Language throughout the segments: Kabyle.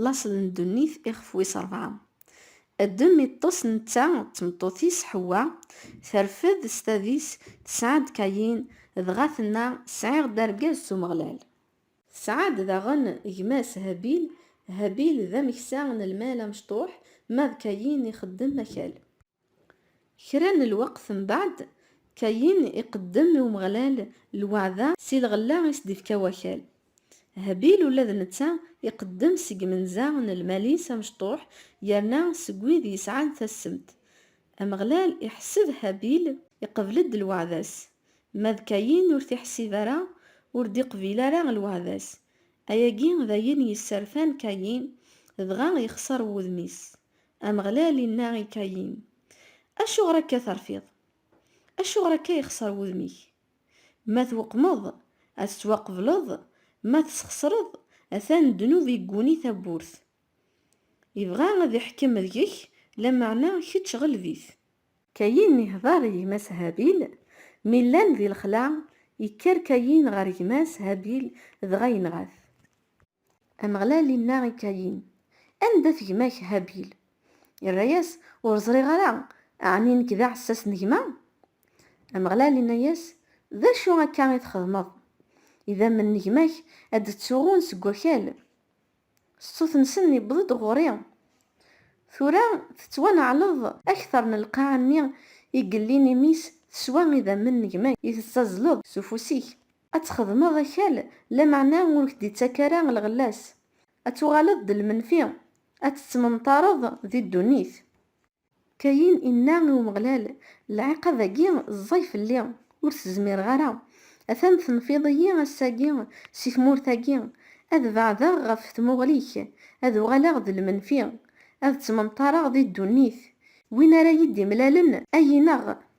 Laṣel n ddunit ixef wis rebɛa. Adem iṭṭes netta d tmeṭṭut-is Ḥewwa, terfed s tadis tesɛa-d Kayin, dɣa tenna, Sɛiɣ-d argaz s Umeɣlal. Tesɛa-d daɣen gma-s Habil, Habil d ameksa n lmal amecṭuḥ, ma d Kayin ixeddem akal. Kra n lweqt mbeɛd, Kayin iqeddem i Umeɣlal lweɛda si lɣella i s-d-ifka wakal. Habil ula d netta iqeddem seg imenza n lmal-is amecṭuḥ yerna seg wid yesɛan tassemt. Ameɣlal iḥesseb Habil iqebl-d lweɛda-s, ma d Kayin ur t-iḥessib ara, ur d-iqbil ara lweɛda-s. Ayagi d ayen yesserfan Kayin, dɣa yexṣer wudem-is. Ameɣlal inna i Kayin, Acuɣer akka terfiḍ? Acuɣer akka yexṣer wudem-ik? Ma tweqmeḍ, ad tettwaqebleḍ, ma tesxesreḍ, atan ddnub igguni tawwurt. Ibɣa ad iḥkem deg-k, lameɛna kečč ɣleb-it. Kayin ihdeṛ i gma-s Habil. Mi llan di lexla, ikker Kayin ɣer gma-s Habil dɣa yenɣa-t. Ameɣlal inna i Kayin, Anda-t gma-k Habil? Irra-yas, Ur ẓriɣ ara, ɛni nekk d aɛessas n gma? Ameɣlal inna-yas, D acu akka i txedmeḍ? Idammen n gma-k ad d-ttuɣun seg wakal, ṣṣut-nsen yewweḍ-d ɣur-i, tura tettwaneɛleḍ. Akteṛ n lqaɛa-nni i yellin imi-s teswa idammen n gma-k i tettazzleḍ s ufus-ik. Ad txedmeḍ akal, lameɛna ur k-d-ittak ara lɣella-s. Ad tuɣaleḍ d lmenfi, ad tettmenṭareḍ di ddunit. Kayin inna i Umeɣlal, Lɛiqab-agi ẓẓay fell-i, ur t-zmireɣ ara. Atan tenfiḍ-iyi ass-agi si tmurt-agi, ad beɛdeɣ ɣef tmuɣli-k, ad uɣaleɣ d lmenfi, ad ttmenṭareɣ di ddunit. Win ara yi-d-imlalen, ad yi-ineɣ.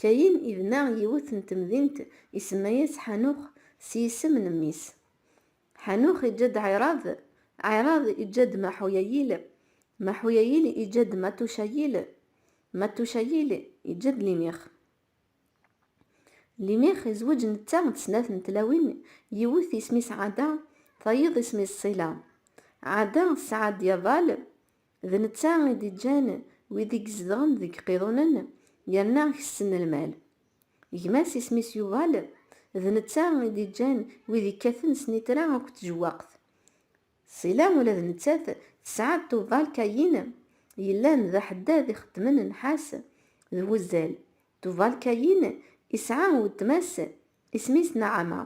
Kayin ibna yiwet n temdint isemma-yas Ḥanux s yisem n mmi-s. Ḥanux iǧǧa-d Ɛirad, Ɛirad iǧǧa-d Maḥuyayil, Maḥuyayil iǧǧa-d Matucayil, Matucayil iǧǧa-d Limix. Limix izweǧ netta d snat n tlawin, yiwet isem-is Ɛada, tayeḍ isem-is Ṣila. Ɛada tesɛa-d Yabal. D netta i d-iǧǧan wid i izedɣen deg iqiḍunen yerna kessen lmal. Gma-s isem-is Yuval, d netta i d-iǧǧan wid ikkaten snitra akked tjewwaqt. Sila ula d nettat tesɛa-d Tuval Kayin yellan d aḥeddad ixeddmen nnḥas d wuzzal. Tuval Kayin isɛa weltma-s isem-is Naɛama.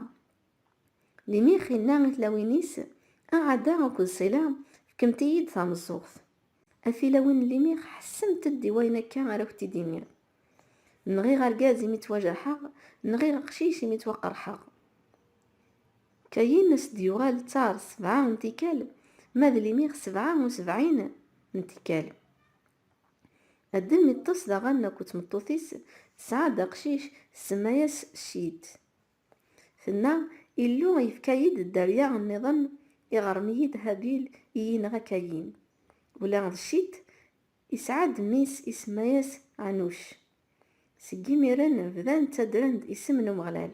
Limix inna i tlawin-is, A Ɛada akked Ṣila, fkemt-iyi-d tameẓẓuɣt. A tilawin n Limix, ḥessemt-d i wayen akka ara ak-t-id-iniɣ. Nɣiɣ argaz imi ttwajerḥeɣ, nɣiɣ aqcic imi ttwaqerḥeɣ. Kayin as d-yuɣal d tar sebɛa n tikkal, ma d Limix sebɛa u sebɛin n tikkal. Adem iṭṭes daɣen akked tmeṭṭut-is, tesɛa-d aqcic, tsemma-yas Cit. Tenna, Illu yefka-yi-d dderya nniḍen, iɣrem-iyi-d Habil i yi-inɣa Kayin. Ula d Cit isɛa-d mmi-s isemma-yas Ɛanuc. Seg yimiren bdan ttaddren-d isem n Umeɣlal.